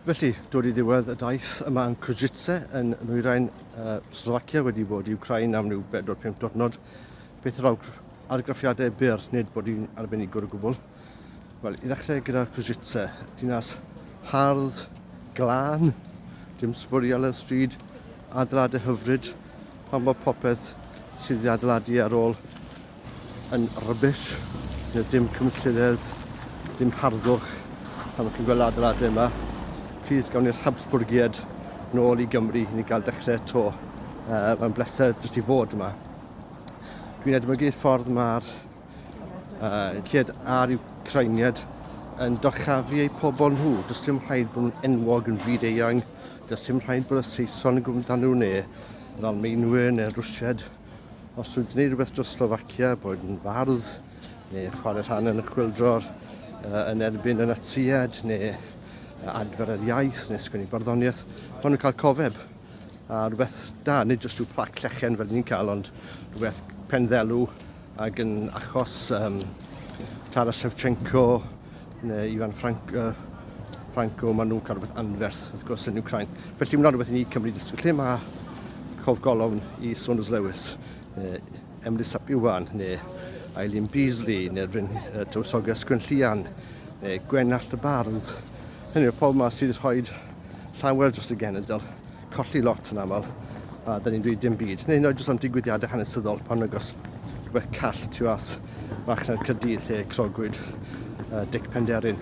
Felly, dod i ddiwedd y daith yma yn Kozice, yn nwyrain uh, Slovacia, wedi bod i Ukraine am rhyw 4-5 diwrnod, beth yr awgr argraffiadau byr, nid bod i'n arbenigwr o gwbl. Wel, i ddechrau gyda Kozice, dinas hardd, glân, dim sbwriel y stryd, adeiladau hyfryd, pan bod popeth sydd wedi adeiladu ar ôl yn rubbish, gyda dim cymysyredd, dim harddwch, pan chi'n gweld adeiladau yma. Please gawn ni'r Habsburgiad nôl i Gymru i ni gael dechrau eto. Uh, mae'n bleser jyst i fod yma. Dwi'n edmygu'r ffordd mae'r uh, cyd a'r Ukrainiad yn dorchafu eu pobl nhw. Does dim rhaid bod nhw'n enwog yn fyd eang. Does dim rhaid bod y Saeson yn gwybod amdano nhw neu yr Almeinwyr neu'r Rwsiad. Os dwi'n gwneud rhywbeth dros Slovakia, bod yn fardd, neu chwarae rhan yn y chwildro'r uh, yn erbyn y Natsiad, neu adfer yr iaith, neu sgwini barddoniaeth, maen nhw'n cael cofeb. A rhywbeth da, nid jyst rhyw plac llechen fel ni'n cael, ond rhywbeth penddelw ac yn achos um, Tara Shevchenko, Neu Ifan Ffranc, uh, Franco, maen nhw'n cael rhywbeth anferth, wrth gwrs, yn Ukraine. Felly mae'n rhywbeth i ni Cymru dysgu. Lle mae cof golofn i Saunders Lewis, neu Emily Sapiwan, neu Eileen Beasley, neu Rhyn uh, Tywysoges Gwenllian, neu Gwenallt y Bardd. Hynny yw, pobl yma sydd wedi rhoi llawer dros y genedl. colli lot yn aml a dyn ni'n dweud dim byd. Neu hyd jyst am digwyddiadau hanesyddol pan agos rhywbeth call tu as farchnad Cyrdydd lle crogwyd uh, Dic Penderyn.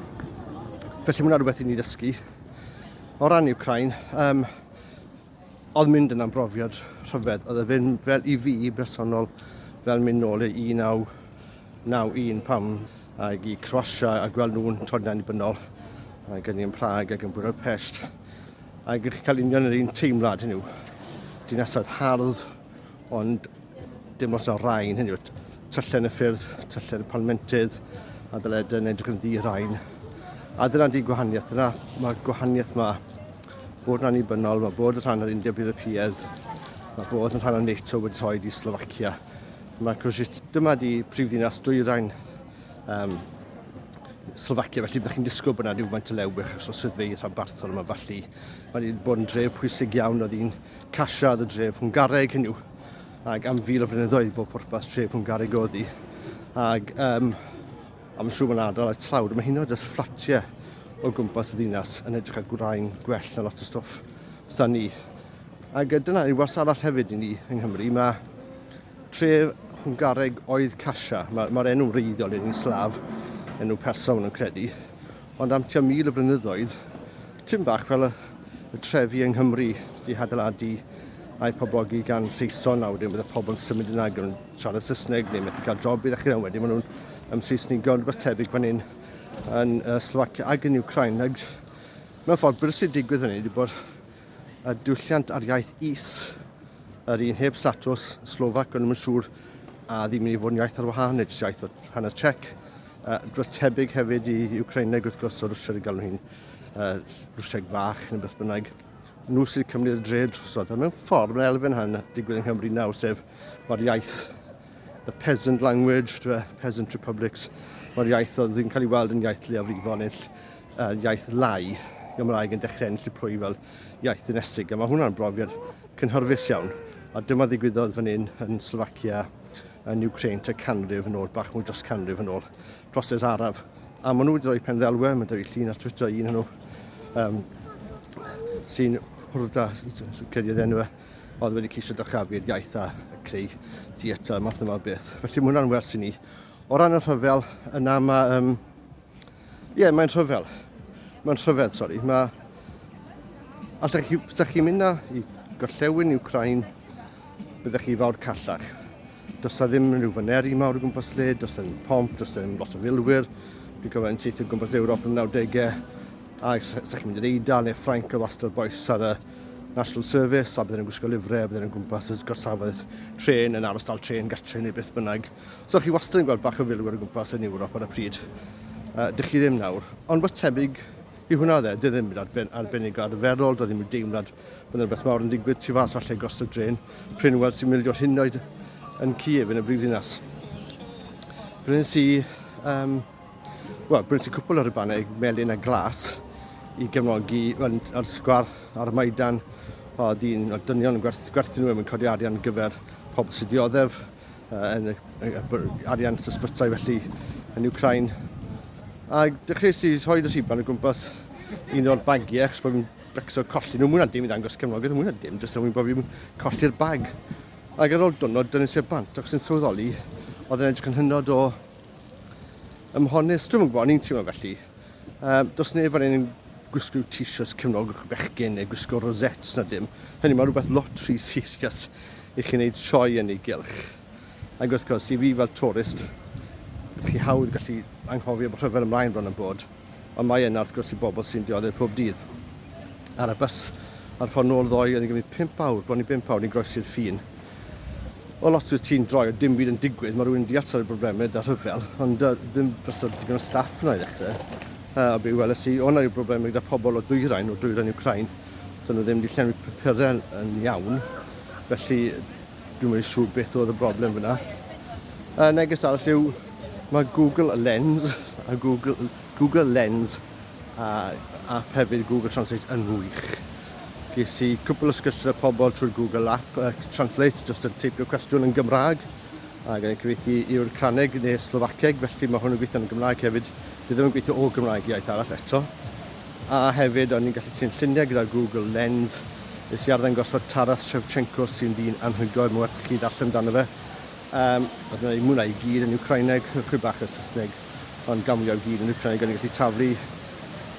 Felly mae rhywbeth i ni ddysgu. O ran Ukraine, um, oedd mynd yn amrofiad rhyfedd. Oedd e fel, fel i fi bersonol fel mynd nôl i 1991 pam ag i Croatia a gweld nhw'n troed yn annibynnol ac yn i'n Prag ac yn Budapest Ac ydych chi'n cael union yr un teimlad hynny yw? Dinasoedd hardd, ond dim os yna rhain hynny yw. Tyllen y ffyrdd, tyllen y palmentydd, a dyled yn edrych yn ddi rhain. A dyna di gwahaniaeth, dyna mae'r gwahaniaeth yma. Bod yn annibynnol, mae bod yn rhan o'r India Bydd y Piedd, mae bod yn rhan o NATO wedi rhoi i Slovacia. Mae Cwsitz, dyma di prifddinas dwyrain um, Slovakia, felly byddwch chi'n disgwyl bod yna rhywfaint o lewbych achos o swyddfeydd rhanbarthol yma, felly mae wedi bod yn dref pwysig iawn oedd hi'n casio oedd y dref Hwnghareg hynny ac am fil o flynyddoedd bod pwrpas tref Hwnghareg oedd hi ac um, am yn siŵr mae'n adael at tlawd mae hyn oedd ys fflatiau o gwmpas y ddinas yn edrych ar gwraen gwell na lot o stoff stan ni ac dyna yw wars arall hefyd i ni yng Nghymru mae Tref Hwngareg oedd Kasia. Mae'r ma enw wreiddiol yn un slaf, enw persa maen nhw'n credu. Ond am tua mil y blynyddoedd, tyn bach fel y, y trefi yng Nghymru, di hadeiladu a'i poblogi gan Saeson a wedyn bydd y pobl yn symud yna gan siarad Saesneg neu methu cael job i ddechrau yna wedyn maen nhw'n ymseisnigo yn rhywbeth tebyg fan hyn yn uh, Slovakia ac yn Ukraine. Ac mewn ffordd, beth sy'n digwydd hynny ydy bod a diwylliant a'r iaith is. Yr un heb statws, Slovac, ond ddim yn siŵr a ddim yn ei fod yn iaith ar wahân neu jyst iaith o hanner Czech. Uh, rhywbeth tebyg hefyd i Ukraineg wrth gwrs o Rwsiaid y galw hi'n uh, Rwsiaid fach neu beth bynnag nhw sydd cymryd y dre drosodd. A mewn ffordd, mae'n elfen hyn digwydd yng Nghymru nawr, sef mae'r iaith The peasant language, the peasant republics, mae'r iaith oedd yn cael ei weld yn iaith leiafrifol neu uh, iaith lai, Gymraeg yn dechrau ennill y pwy fel iaith ddinesig, a mae hwnna'n brofiad cynhyrfus iawn. A dyma ddigwyddodd fan hyn yn Slovakia, yn Ukraine, te canrif yn ôl, bach mwy dros canrif yn ôl, proses araf. A maen nhw wedi rhoi pen ddelwe, mae'n dweud llun ar Twitter un nhw, um, sy'n hwrda, sy'n credu oedd enw e, oedd wedi ceisio dyrchafu'r iaith a creu theatr a math yma o beth. Felly mae hwnna'n wers i ni. O ran y rhyfel, yna mae... Um, Ie, yeah, mae'n rhyfel. Mae'n rhyfedd, sori. Mae... Os ydych chi, chi mynd na i gorllewin Ukraine, byddech chi fawr callach. Does na ddim rhyw faneri mawr o gwmpas le, does na ddim pomp, does na ddim lot o filwyr. Dwi'n cofio yn teithio gwmpas Ewrop yn y 90au, a ydych chi'n mynd i'r Eidal neu Ffrainc o wastad boes ar y National Service, a bydden nhw'n gwisgo lifre, a bydden nhw'n gwmpas y gorsafoedd tren yn aros dal tren gartre neu beth bynnag. So chi wastad yn gweld bach o filwyr o gwmpas yn Ewrop ar y pryd. Uh, dych chi ddim nawr. Ond wrth tebyg i hwnna dde, dy ddim yn arben, arbennig arferol, do ddim yn deimlad bod yna beth mawr yn digwydd tu fas falle gorsaf dren, prin weld sy'n mildio hyn oed yn Ciev yn y brifddinas. Bryn sy'n um, Wel, gwnes i cwpl o rybannau melyn a glas i gefnogi yn, ar sgwar ar y Maidan. O, dyn, o, dynion yn gwerth, gwerthu nhw yn codi arian gyfer pobl sy'n dioddef, uh, yn y, y, y, arian sysbytau felly yn Ukraine. A dechreuais i rhoi y rhiban o gwmpas un o'r bagiau, achos bod fi'n becso colli nhw, mwyn dim i ddangos cefnogaeth, mwyn dim, jyst mwyn bod fi'n colli'r bag. Ac ar ôl dwrnod, dynnes i'r bant, ac sy'n sylweddoli, oedd yn edrych yn hynod o Ym Mhonys, dwi'n yn gwybod, ni'n teimlo felly. Um, does neb fan hyn gwisgo t-shirts cefnogwch bechgyn neu gwisgo rosettes na dim. Hynny mae rhywbeth lot rhy serious i chi'n neud sioe yn ei gylch. Ac wrth gwrs, i fi fel tourist, chi hawdd gallu anghofio bod rhyfel ymlaen bron yn bod. ond mae yna wrth gwrs i bobl sy'n dioddef pob dydd. Ar y bus ar ffordd nôl ddoe oedd yn gymryd 5 awr, bron i 5 awr, ni'n groesi'r ffin. Wel, os dwi ti'n droi, oedd dim byd yn digwydd, mae rhywun yn deall sort o broblemau da rhyfel, ond uh, ddim bysod digon o staff yna i ddechrau. Uh, a be weles i, o'na rhyw broblemau gyda pobl o dwyrain, o dwyrain Ukraine, dyn nhw ddim wedi llenwi papurau yn iawn, felly Dwi'm yn siŵr beth oedd y broblem fyna. Y neges arall yw, mae Google Lens a Google, Google Lens a app hefyd Google Translate yn wych. Ges i cwpl o sgyrsiau â pobl trwy'r Google app uh, Translate, jyst yn teipio cwestiwn yn Gymraeg, ac yn cyfeithi i'r Craneg neu Slofaceg, felly mae hwn yn gweithio yn Gymraeg hefyd. Dwi ddim yn gweithio o Gymraeg iaith arall eto. A hefyd, o'n i'n gallu trin lluniau gyda Google Lens. Nes i arddangosfa Taras Shevchenko sy'n ddyn anhygoel, mae'n werth i chi ddarllen amdano fe. Um, oedd yna mwynhau i gyd yn Ukraineg, chwy bach o Saesneg, ond gamwlio i gyd yn Ukraineg, o'n i'n gallu taflu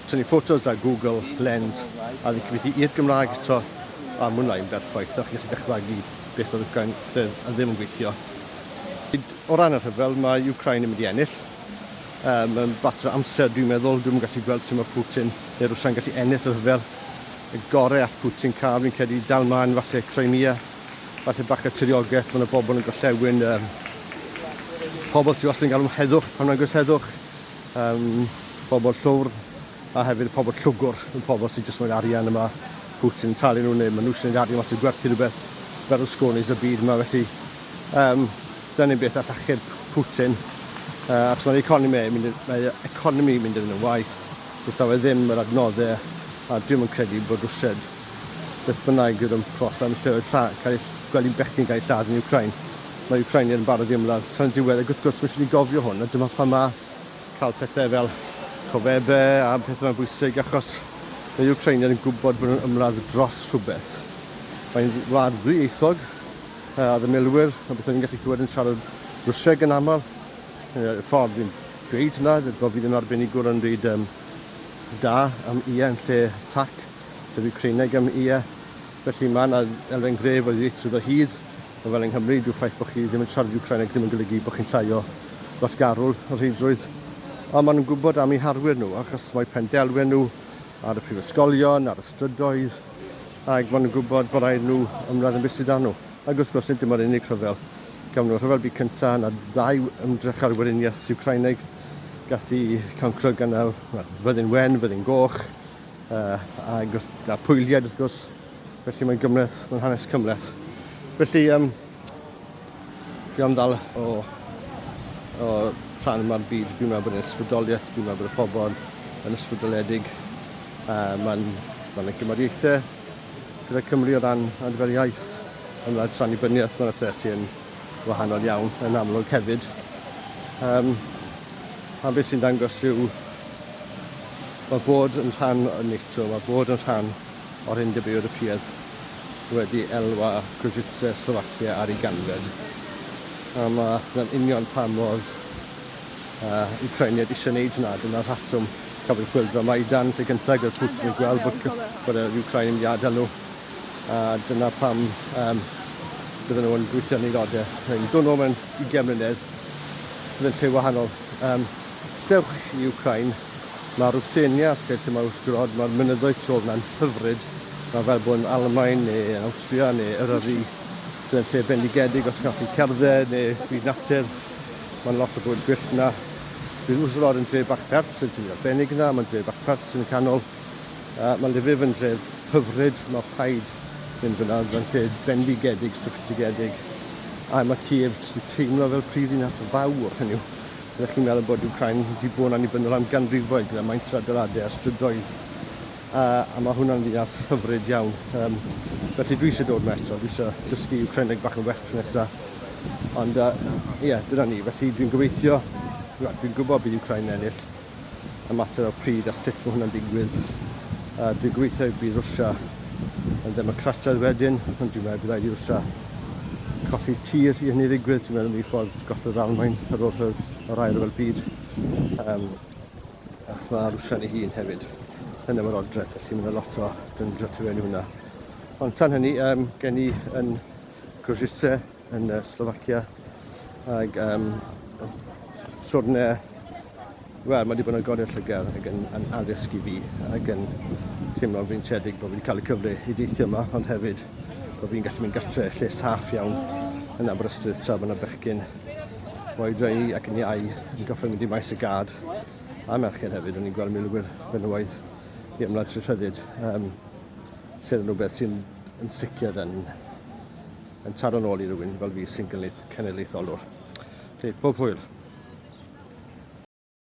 tynnu ffotos da Google Lens a wedi cyfeithi i'r Gymraeg eto a mwynhau yn berffaith. O'ch chi'n gallu dychmygu beth oedd Ukraine ddim yn gweithio. O ran y rhyfel, mae Ukraine yn mynd i ennill. Yy, mae'n fater o amser, dwi'n meddwl. Dwi'm yn gallu gweld sut mae Putin neu Rwsia'n gallu ennill y rhyfel. Y gore all Putin cael, fi'n credu, dal mlaen, falle Crimea, falle bach o tiriogaeth, mae 'na bobl yn gorllewin yy pobl sydd wastad yn galw am heddwch pan mae'n gwrs heddwch, yym pobl llwfr a hefyd pobl llwgwr, y pobl sydd jyst moyn arian y mae Putin yn talu nhw neu mae nhw isie wneud arian os yw gwerthu rhywbeth fel y sgônis y byd yma felly Um, Dyna ni beth all achub Putin, uh, achos mae'r economi yn mynd, mae economi mynd yn y waith, wrth awe ddim yr adnoddau, a dwi'n yn credu bod Rwsiad beth bynnag yw'r ymffos am lleoedd lla, cael eich gweld i'n bechgyn gael eich lladd yn Ukraine. Mae Ukraine yn barod i ymladd tan y diwedd, ac wrth gwrs, mae eisiau ni gofio hwn, a dyma pha mae cael pethau fel cofebe a pethau mae'n bwysig, achos mae Ukraine yn gwybod bod nhw'n ymladd dros rhywbeth. Mae'n wlad ddwyieithog, uh, oedd y milwyr, a beth ni'n gallu clywed yn siarad Rwsieg yn aml. Uh, ffordd i'n dweud hynna, bod fi ddim arbenigwr yn byd um, da am ie yn lle tac, sef i Creineg am ie. Felly mae yna elfen gref o ddieithrwydd o hyd, ond fel yng Nghymru, dyw ffaith bod chi ddim yn siarad Ukraineg ddim yn golygu bod chi'n llai o wasgarwl o rheidrwydd. Ond maen nhw'n gwybod am eu harwyr nhw, achos mae pendelwen nhw ar y prifysgolion, ar y strydoedd, Ac maen nhw'n gwybod bod rhaid nhw ymladd yn bwysig dan nhw. Ac wrth gwrs, nid dyma'r unig rhyfel. Gafon nhw'r Rhyfel Byd Cyntaf, yna ddau ymdrech ar weriniaeth Wcraineg gath i cancro gan y fyddin wen, fyddin goch, uh, ac wrth, a pwylied wrth gwrs. Felly mae'n gymleth, mae'n hanes cymleth. Felly, um, Fi am ddal o, o rhan yma'r byd. Fi'n meddwl bod yn ysbrydoliaeth. Dwi'n meddwl bod y pobl yn ysbrydoledig. Uh, Mae'n ma yna gymariaethau gyda Cymru o ran ar gyfer iaith. Yn rhaid rhan i byniaeth, mae'n pethau sy'n wahanol iawn yn amlwg hefyd. Um, a beth sy'n dangos yw mae bod yn rhan o NATO, mae bod yn rhan o'r Undeb Ewropeaidd wedi elwa Košice, Slovakia ar ei ganfed. A mae hwnna'n union pam oedd uh, Ukrainiaid eisiau wneud hwnna. Dyna'r rheswm cafodd chwildro Maidan sy'n gyntaf gyda Putin yn gweld bod, bod yr Ukrain yn iada nhw. A dyna pam um, bydden nhw'n gweithio yn ei ddodau. Dwi'n meddwl mewn 20 mlynedd, bydd yn lle wahanol. Um, Dewch i Wcráin! Mae Ruthenia set yma wrth grodd, mae'r mynyddoedd tu ôl yna'n hyfryd, mae fel bod yn Almaen neu yn Awstria neu Eryri, bydd yn lle bendigedig os gallwch chi cerdded neu byd natur, mae'n lot o bwyd gwyllt yna. Bydd wrth yr or yn dref bach pert sy'n swnio'n arbennig yna, mae'n dref bach pert sy'n y canol, uh, mae Lviv yn dref hyfryd, mae rhaid mynd fyna, mae'n lle bendigedig, soffistigedig, a mae Kiev sy'n teimlo fel prifddinas fawr, hynny yw, Rydych chi'n meddwl bod Wcráin wedi bod yn annibynnol am ganrifoedd gyda maint yr adeiladau a strydoedd, a, a mae hwnna'n ddinas hyfryd iawn. Um, felly dwi eisiau dod yma eto, dwi eisiau dysgu Wcraineg bach yn well tro nesaf. Ond, ie, uh, yeah, dyna ni. Felly dwi'n gobeithio, dwi'n gwybod bydd Wcráin ennill, y mater o pryd a sut mae hwnna'n digwydd. A dwi'n gobeithio y bydd Rwsia yn ddemocrataidd wedyn, ond dwi'n meddwl bydd rhaid i Rwsia colli tir i hynny ddigwydd. Dwi'n meddwl ni ffordd gosod Almain ar ôl rhyw, o'r air fel byd. Um, achos mae Rwsia ei hun hefyd yn efo'r odredd, felly mae'n lot o dyngio tu fewn i hwnna. Ond tan hynny, um, gen i yn Grosiste yn uh, Slovakia ac um, siwrne wel, mae wedi bod yn godi llygad ac yn, yn addysg i fi ac yn teimlo'n fi'n tredig bod fi wedi cael y cyfle i deithio yma ond hefyd bod fi'n gallu mynd gatre lle saff iawn yn Aberystwyth tra bod yna bechgyn fo'i dreu ac yn iau yn goffa mynd i maes y gad a merched hefyd o'n i'n gweld milwyr benywaidd i ymlaen trwy rhyddid um, sydd yn rhywbeth sy'n yn sicr yn yn taro nôl i rywun fel fi sy'n gynulleidfaolwr. Felly, pob hwyl!